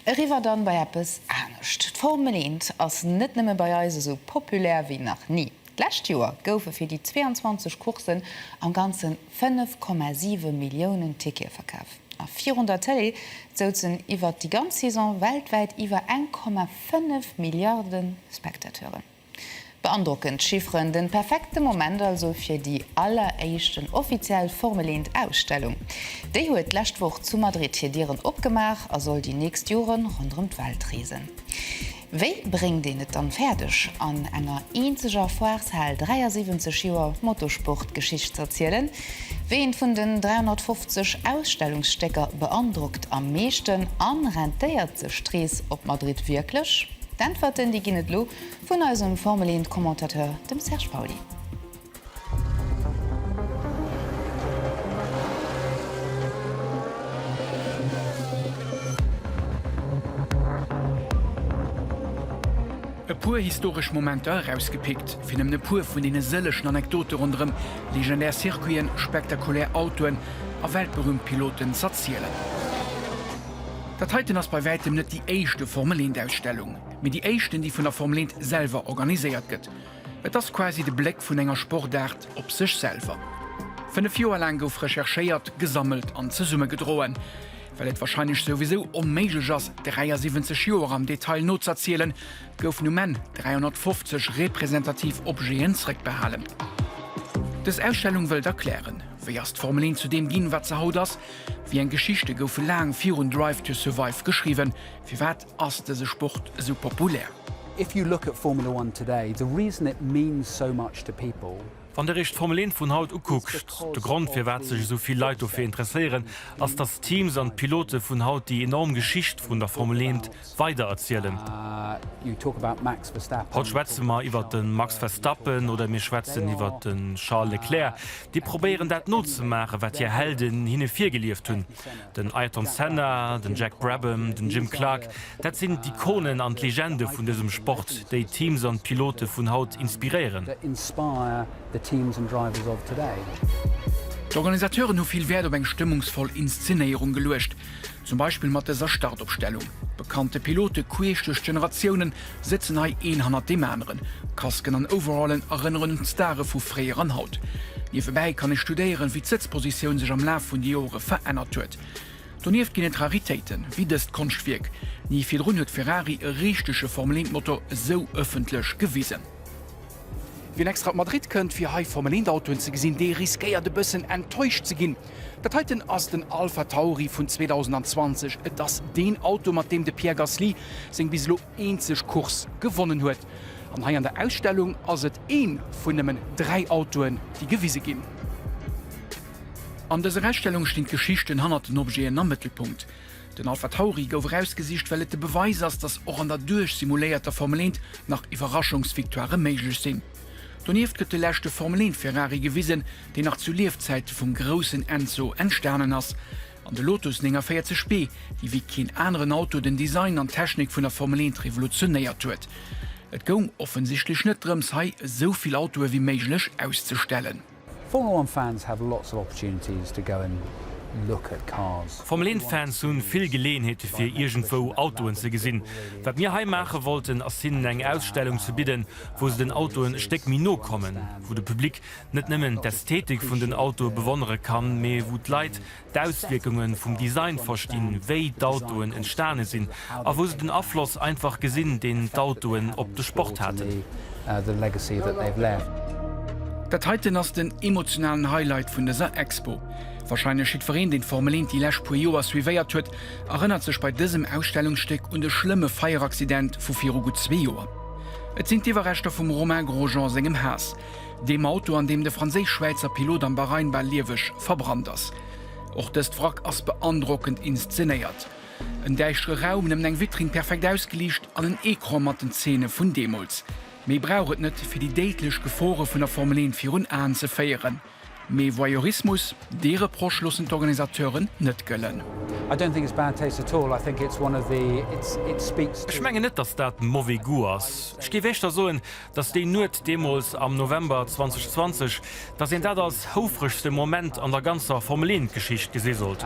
Eriwwer dann bei eppes anescht. D'Formel eent ass net nëmme bei eis esou populär wéi nach ni. D'lescht Joer goufe fir déi 22 Courssen am Ganze 5,7 Milliounen Tickete verkaf. A virun der Tëlee souzen iwwert déi ganz Saison weltwäit iwwer 1,5 Milliarde Spectateuren. Beandrockend Chifferen, den perfekten Moment also fir déi alleréischten offiziell Formel eent Ausstellung. Déi huet d'lescht Woch zu Madrid hir Dieren opgemaach a soll déi nächst Joren ronderëm d'Welt reesen. Wéi bréngt een et dann fäerdeg an enger eenzeger Foireshal 73 Joer Motosport-Geschicht z'erzielen? Wéi eent vun den 350 Ausstellungsstécker beandrockt am meeschten an rentéiert sech d'Rees op Madrid wierklech? D'Äntwerten, déi ginn et elo vun eisem Formel Eent Commentateur, dem Serge Pauly. E puer historesch Momenter erausgepickt, fir nëmmen e puer vun deene sëllegen Anekdote ronderëm legendär Circuiten, spektakulär Autoen a weltberühmt Piloten z'erzielen. Dat heiten ass bei wäitem net déi éischte Formel eent Ausstellung, mee déi éischten déi vun der Formel eent selwer organiséiert gëtt. Et ass quasi de Bléck vun enger Sportaart op sech selwer. Fënnef Joer laang gouf recherchéiert, gesammelt an zesummegedroen. Well et warscheinlech souwisou onméiglech ass 73 Joer am Detail nozazielen, goufen um Enn 350 representativ Objeten zrëckbehalen. Dës Ausstellung wëllt erklären, wéi ass d'Formel eent zu deem ginn wat se haut ass, Wéi eng Geschichte goufe laang virun Drive to Survive geschriwwen? Firwat ass dëse Sport esou populär? If you look at Formula One today, the reason it means so much to people. Wann der iech d'Formel 1 vun haut ukuckt, de Grond firwat sech esou vill Leit dofir interesséieren, ass dass d'Teams an d'Pilote vun haut déi enorm Geschicht vun der Formel 1 Sport. Weider erzielen. Haut schwätze mer iwwert de Max Verstappen oder mir schwätzen iwwert de Charles Leclerc, déi probéieren dat nozemaachen, wat hir Helden hinne virgelieft hunn. Den Ayrton Senna, den Jack Brabham, den Jim Clark, dat sinn d'Ikonen an d'Legende vun dësem Sport, déi d'Teams an d'Pilote vun haut inspiréieren. D'Organisateuren hu vill Wäert op eng stëmmungsvoll Inszenéierung geluecht. Zum Beispill mat dëser Startopstellung. Bekannte Pilote queesch duerch d'Generatiounen sëtzen hei een hannert deem aneren. Kasken an Overallen erënneren un d'Stare vu fréier an haut. Niewebäi kann ee studéieren, wéi d'Sëtzpositioun sech am Laf vun de Jore verännert huet. Donieft ginn et Raritéiten, wéi dëst Konschtwierk. Ni virdrun huet Ferrari e richtege Formel-Eent-Motor esou ëffentlech gewisen. Wien extra op Madrid kënnt, fir hei Formel-Eent-Autoen ze gesinn, dee riskéiert e bëssen enttäuscht ze ginn. Dat heiten ass den Alpha Tauri vun 2020. Et ass deen Auto, mat deem de Pierre Gasly seng bis elo eenzeg Course gewonnen huet. An hei an der Ausstellung ass et ee vun nëmmen dräi Autoen, déi gewise ginn. An dëser Ausstellung stinn d'Geschichten hannert den Objeten am Mëttelpunkt. Den Alpha Tauri gouf erausgesicht, well et de Beweis ass, datt och an der duerchsimuléierter Formel 1 nach Iwwerraschungsvictoirë méiglech sinn. Donieft gëtt de leschte Formel 1 Ferrari gewisen, deen nach zu Liefzäite vum groussen Enzo entstanen ass. An de Lotus 49 B, dee wéi keen aneren Auto den Design an d'Technik vun der Formel 1 revolutionéiert huet. Et goung offensichtlech net drëms, hei esou vill Autoe wéi méiglech auszestellen. Formula One Fans have lots of opportunities to go and look at cars. Formel Een Fans hu vill Geleeënheete fir iergendwou Autoen ze gesinn. Wat mir hei maache wollten ass hinnen eng Ausstellung ze bidden, wou se den Autoen e Stéck méi no kommen, wou de Public net nëmmen d'Ästhetik vun den Autoe bewonnere kann, mee wou d'Leit d'Auswierkunge vum Design verstinn, wéi d'Autoen entstane sinn a wou se den Afloss einfach gesinn, deen d'Autoen op de Sport haten. Dat heiten ass den emotionalen Highlight vun dëser Expo. Warscheinlech jiddwereen, deen d'Formel 1 déi lescht puer Joer suivéiert huet, erënnert sech bei dësem Ausstellungsstéck un de schlëmme Feieraccident vu viru gutt zwee Joer. Et sinn d'Iwwerreschter vum Romain Grosjean sengem Haass, Deem Auto, an deem de franséisch-schwäizer Pilot am Bahrain bal lieweg verbrannt ass. Och dëst Wrack ass beandrockend inszenéiert. En däischtere Raum, nëmmen eng Vitrinn perfekt ausgeliicht an en Ecran mat den Zeene vun deemools. Méi brauch et net, fir déi déidlech Gefore vun der Formel 1 virun Aen ze féieren. Mee Voyeurismus? Dee Reproche loossen d'Organisateuren net gëllen. Ech mengen net, datt dat mauvaise goût ass. Ech géif éischter soen, dass déi Nuet deemools am November 2020, dass een dat als houfregste Moment an der ganzer Formel-1-Geschicht gesi sollt.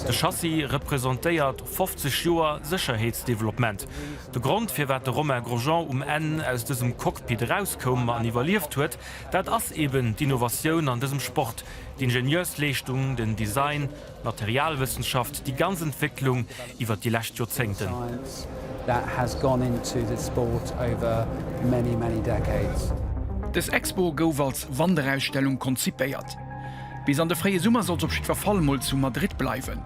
De Chassis representéiert 50 Joer Sécherheetsdeveloppement. De Grond, firwat de Romain Grosjean um Enn aus dësem Cockpit erauskoum an iwwerlieft huet, dat ass eeben d'Innovatioun an dësem Sport, d'Ingenieursleeschtung, den Design, Materialwëssenschaft, déi ganz Entwécklung iwwer déi lescht Joerzéngten. Dës Expo gouf als Wanderausstellung konzipéiert. Bis an de fréie Summer soll se op jiddwer Fall mol zu Madrid bleiwen.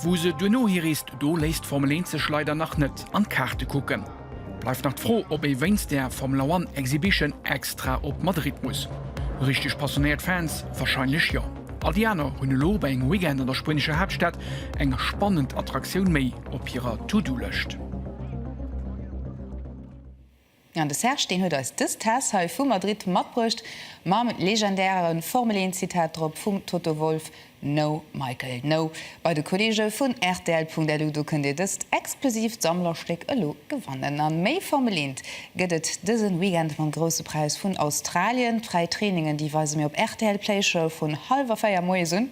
Wou se duerno hireest, do léisst d'Formel 1 sech leider nach net an d'Kaarte kucken. Bleift nach d'Fro, ob ee wéinst der Formula One Exhibition extra op Madrid muss. Richteg passionéiert Fans warscheinlech jo. All déi aner hunn elo bei engem Weekend an der spuenescher Haaptstad eng spannend Attraktioun méi op hirer To-Do-Lëscht. An de Serge, deen huet eis dës Tess hei vu Madrid matbruecht mam legendäre Formel-Een-Zitat drop vum Toto Wolff, No Michael No bei de Kolleege vun rtl.lu. Do kënnt Dir dëst exklusiivt Sammlerstéck elo gewannen. A méi vermeleent gëtt et dësen Weekend mam Grousse Präis vun Australien. D'fräi Trainingen, déi weise mir op rtl Playche vun hallwer 4 moies un.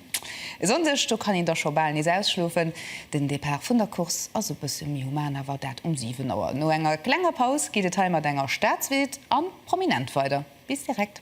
E Sonndeg, do kann een da scho bal nees ausschlofen. Den Depart vun der Course ass e bësse méi human, awer dat um 7 Auer. No enger klenger Paus geet et hei mat enger Staatsveedte an Prominent weider. Bis direkt.